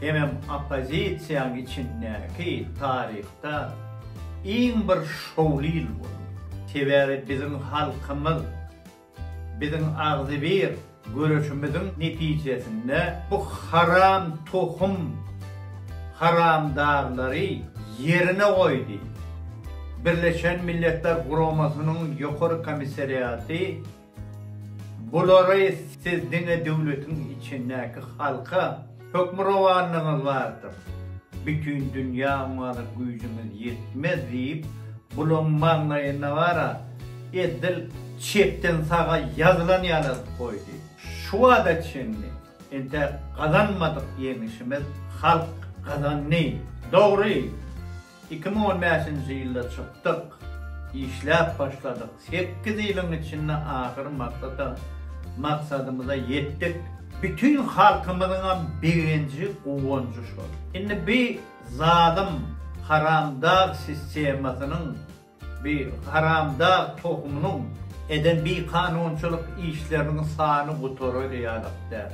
Hemem oppozisiýaň içindäki taryhda iň bir şowly ýyl boldy. Sebäbi biziň halkymyz biziň agzybir göreşimiziň netijesinde bu haram tohum haramdarlary ýerine goýdy. Birleşen Milletler Guramasynyň Ýokary komissariaty Bulary siz diňe döwletiň içindäki halka hökmürowanlygyňyz bardyr, bütin dünýä oňaly güýjüňiz ýetmez diýip, bulaň maňlaýyna bara edil çepden saga ýazylan ýaly azyp goýdy. Şu wada çenli entäk gazanmadyk ýeňişimiz halk gazandy. Dogry! Iki müň on bäşinji ýylda çykdyk. Işläp başladyk. Sekiz ýylyň içinde ahyr maksata, maksadymyza ýetdik. Bütin halkymyzyňam begenji, guwanjy şol. Indi bi zalym, haramdag sistemasynyň, bi haramdag tohumynyň eden bikanunçylyk işleriniň sany gutarary ýalak däl.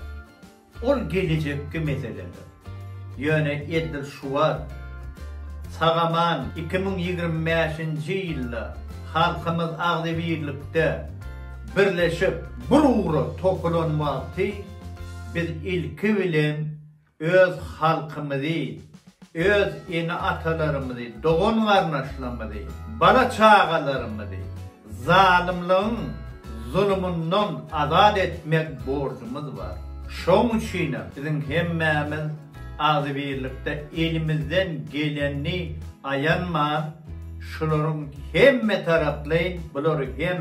Ol gelejekki meseledir. Ýöne edil şu wagt, sag-aman iki müň ýigrimi bäşinji ýylda halkymyz agzybirlikde birleşip, bir ugra topulan wagty biz ilki bilen öz halkymyzy Öz ene-atalarymyzy, dogan-garyndaşlarymyzy, bala-çagalarymyzy zalymlygyň zulumyndan azat etmek borjumyz bar. Şoň üçinem biziň hemmämiz agzybirlikde elimizden gelenini aýanman, şularyň hemmetaraplaýyn bulary hem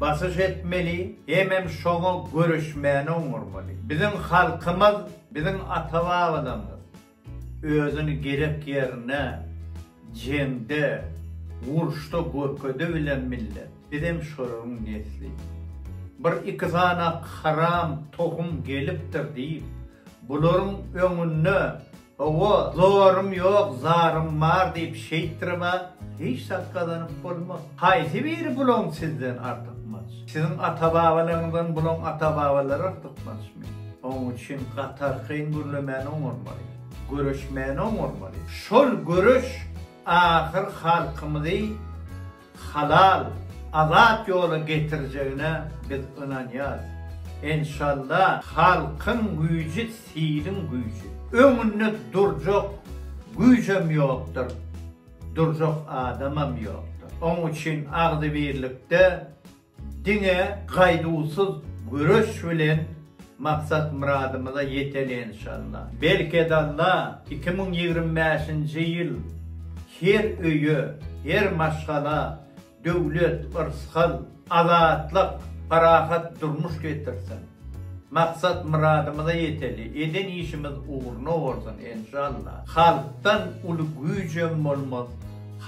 basyş etmeli, hemem şoňa göreşmäni oňarmaly. Biziň halkymyz, biziň ata-babalarymyz Özüni gerek ýerinde, jeňde, uruşda görkedebilen millet. Bizem şolaryň nesli. Bir iki sany haram tohum gelipdir diýip, bularyň öňünde, Hawa, zorym ýok, zarym bar diýip şeýtdirip-ä hiç zat gazanyp bolmaz. Haýsy biri bulaň sizden artykmaç? Siziň ata-babalaryňyzdan bulaň ata-babalary artykmaçmy? Oň üçin gatarkyn gürlemäni oňarmaly, göreşmäni oňarmaly. Şol göreş ahyr halkymyzy halal, azat ýola getirjegine biz ynanýarys. Enşalla, halkyň güýji siliň güýji. Öňünde durjak güýjem ýokdur, durjak adamam ýokdur. Oň üçin agzybirlikde Diňe gaýduwsyz göreş bilen maksat-myradymyza ýeteli enşalla. Berkedalla, iki müň ýigrimi bäşinji ýyl her öýe, her maşgala döwlet, yrsgal, azatlyk, parahat durmuş getirsin. Maksat-myradymyza ýeteli, eden işimiz ugruna bolsun enşalla. Halkdan uly güýjem bolmaz,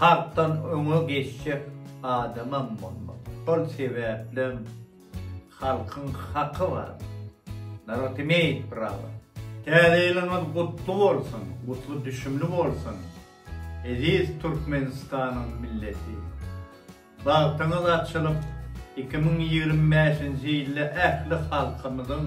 halkdan öňe geçjek adamam bolmak. Şol sebäplem halkyň haky bar. Narod imeýt prawa. Täze ýylyňyz gutly bolsun, gutly düşümli bolsun, eziz Türkmenistanyň milleti! Bagtyňyz açylyp, iki müň ýigrimi bäşinji ýylda ähli halkymyzyň